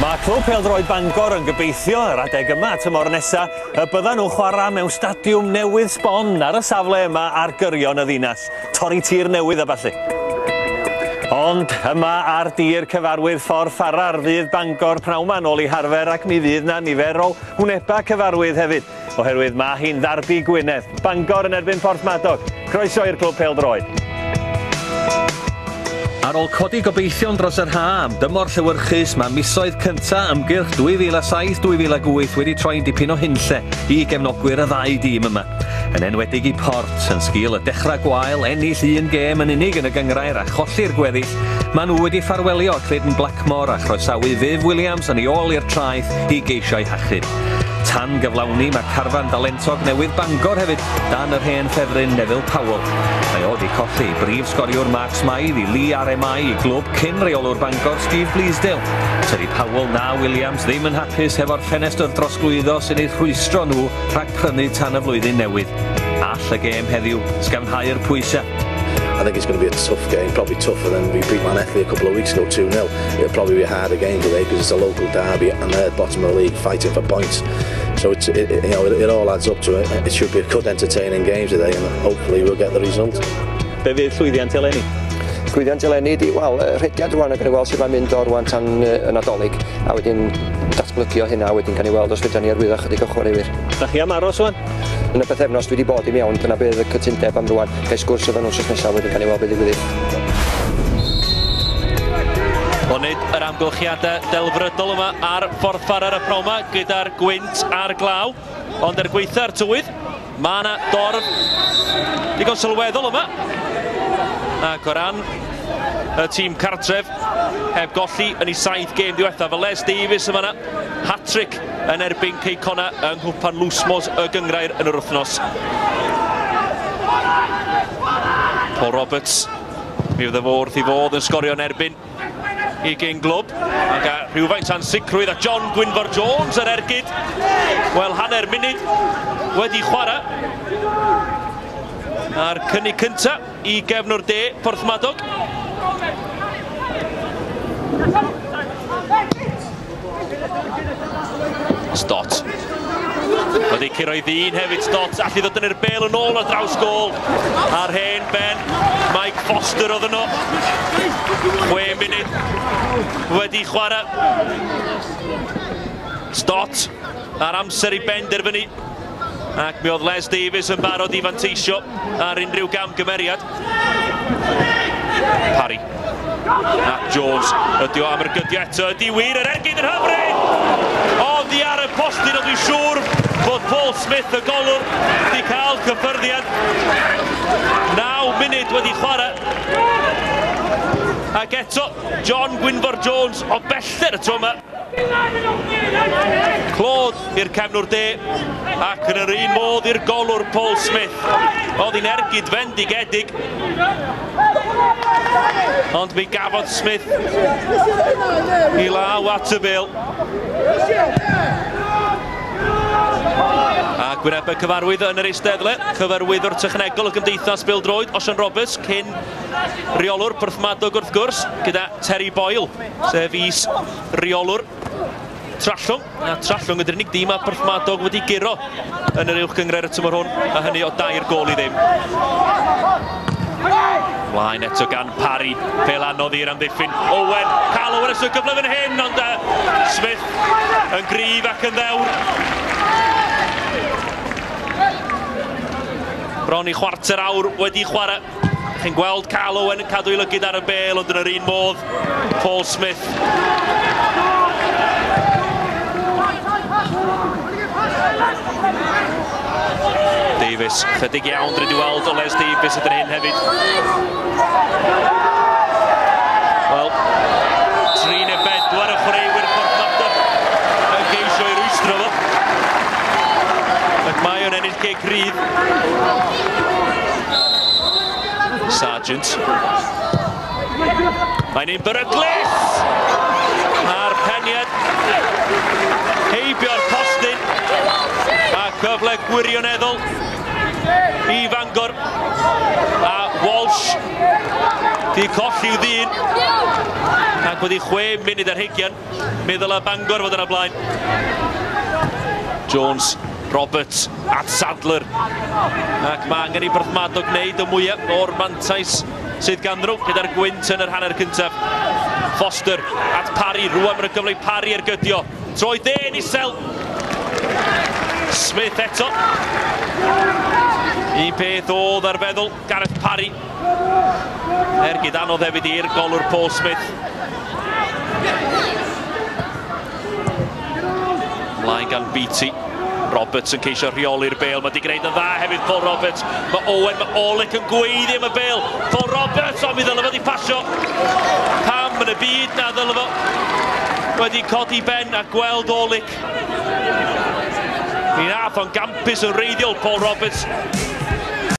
Mae Clwb Pêl-droed Bangor yn gobeithio yr adeg yma tymor nesa y byddan nhw'n chwarae mewn stadiwm newydd sbon ar y safle yma ar gyrion y ddinas, torri tir newydd a ballu. Ond yma ar dir cyfarwydd ffordd Ffarar fydd Bangor pnawn 'ma nôl i harfer ac mi fydd 'na nifer o wnebau cyfarwydd hefyd. oherwydd mae hi'n ddarbi Gwynedd, Bangor yn erbyn Porthmadog. Croeso i'r clwb pêl-droed. Ar ôl codi gobeithion dros yr ha am dymor llewyrchus, mae misoedd cynta ymgyrch 2007-2008 wedi troi'n dipyn o hunlle i gefnogwyr y ddau dîm yma. Yn enwedig i Port, yn sgil y dechrau gwael, ennill un gêm yn unig yn y gyngrair a cholli'r gweddill, maen nhw wedi ffarwelio Clayton Blackmore a chroesawu Viv Williams yn ei ôl i'r traeth i geisio ei hachub. Tan gyflawni, mae carfan dalentog newydd Bangor hefyd dan yr hen ffefryn Neville Powell. Mae o wedi colli brif sgoriwr Mark Smythe i Lee RMI i glwb cyn reolwr Bangor Steve Bleasdale. Tydi Powell na Williams ddim yn hapus hefo'r ffenestr drosglwyddo sy'n eu rhwystro nhw rhag prynu tan y flwyddyn newydd. All y gêm heddiw sgafnhau'r pwysau? I think it's going to be a tough game, probably tougher than we beat Man Ethley a couple of weeks ago 2-0. It'll probably be a harder game today because it's a local derby and they're bottom of the league fighting for points. So it's, it, you know, it, it all adds up to it. It should be a good entertaining game today and hopefully we'll get the result. Be fydd llwyddiant eleni? Llwyddiant eleni di, wel, rhediad rwan ac yn ei weld sydd mae'n mynd o'r rwan tan y Nadolig a wedyn datblygio hynna wedyn gan ei weld os fydda ni arwyddo chydig o chwaraewyr. Da chi am aros rwan? Yn y pythefnos dwi wedi bod i mewn, dyna bydd y cytundeb am rwan. Gai sgwrs efo nhw wsos nesaf wedyn gan i weld beth ddigwydd. Onid yr amgylchiadau delfrydol yma ar Ffordd Farer y Proma gyda'r gwynt a'r glaw, ond er gweitha'r tywydd, mae yna dorf digon sylweddol yma. Ac o ran y tîm cartref, heb golli yn ei saith gêm diwethaf, mae Les Davies yma yna, hat-trick yn erbyn Cei Connah yng Nghwpan Lwsmos y Gyngrair yn yr wythnos. Paul Roberts, mi oedd y fo wrth i fodd yn sgorio yn erbyn i gyn glwb. Ac a rhywfaint a'n sicrwydd a John Gwynfor Jones yr ergyd. Wel, hanner munud wedi chwarae. A'r cynnig cyntaf I gefn o'r de, Porthmadog. Stott. Wedi curo i ddyn hefyd Stott, allu ddod yn yr bel yn ôl ar draws gol. A'r hen ben, Mike Foster oedd yno. 6 munud wedi chwarae. Stott ar amser i benderfynu ac mi oedd Les Davies yn barod i fanteisio ar unrhyw gamgymeriad. Parry. Ac Jones. Ydy o am yr gydio eto. Ydy wir yr ergyd yn hyfryd. Oddi ar y postyn o dwi'n siŵr bod Paul Smith y golwr wedi cael cyffyrddiad. 9 munud wedi chwarae. Ac eto, John Gwynfor Jones o bellter y tro yma. Clod i'r cefnwr de, ac yn yr un modd i'r golwr Paul Smith. Oedd hi'n ergyd fendigedig. Ond mi gafodd Smith i law at y bel. A gwyneb y cyfarwydd yn yr eisteddle, cyfarwyddwr technegol y Gymdeithas Bildroed, Osian Roberts, cyn reolwr Porthmadog wrth gwrs, gyda Terry Boyle. sef is reolwr Trallwng. A Trallwng ydy'r unig dîm a Porthmadog wedi guro yn yr uwch gyngred y tymor hwn, a hynny o dair gol i ddim. Mlaen eto gan Parry, fel anodd i'r amddiffyn. Owen, cael Owen ysgrifennu gyfle fan hyn, ond uh, Smith yn gryf ac yn ddewr. Bron i chwarter awr wedi chwarae. Chi'n gweld Cal Owen yn cadw ei lygyd ar y bel, ond yn yr un modd, Paul Smith. Davies, chydig iawn, dwi wedi weld o Les Davies ydyn hyn hefyd. Wel, trin y bed, dwi'n y chwaraewyr Portland yn geisio i rwystro fo. Ac mae o'n ennill gig. Pryd. Sargent. Mae'n un beryglus! A'r peniad heibio'r postyn. A cyfle gwirioneddol i Fangor. A Walsh di colli'w ddyn. Ac wedi chwe munud ar heigian. Fe ddylai Bangor fod yn y blaen. Jones, Roberts at Sadler. Ac mae angen i Porthmadog gwneud y mwyaf o'r mantais sydd gan nhw gyda'r gwynt yn yr hanner cyntaf. Foster at Parry, rwan mae'n gyfle i Parry ar gydio. Troi dên isel. Smith eto. Un peth oedd ar feddwl. Gareth Parry. Ergyd anodd hefyd i'r golwr Paul Smith. Mlaen gan Beatty. Roberts yn ceisio rheoli'r bel. Mae di gwneud yn dda hefyd Paul Roberts. Mae Owen, mae Olic yn gweiddi am y bel. Paul Roberts, ond mi ddylai fod i pasio. Pam yn y byd na ddylai fo wedi codi ben a gweld Olic. Mi nath o'n gampus yn reiddiol Paul Roberts.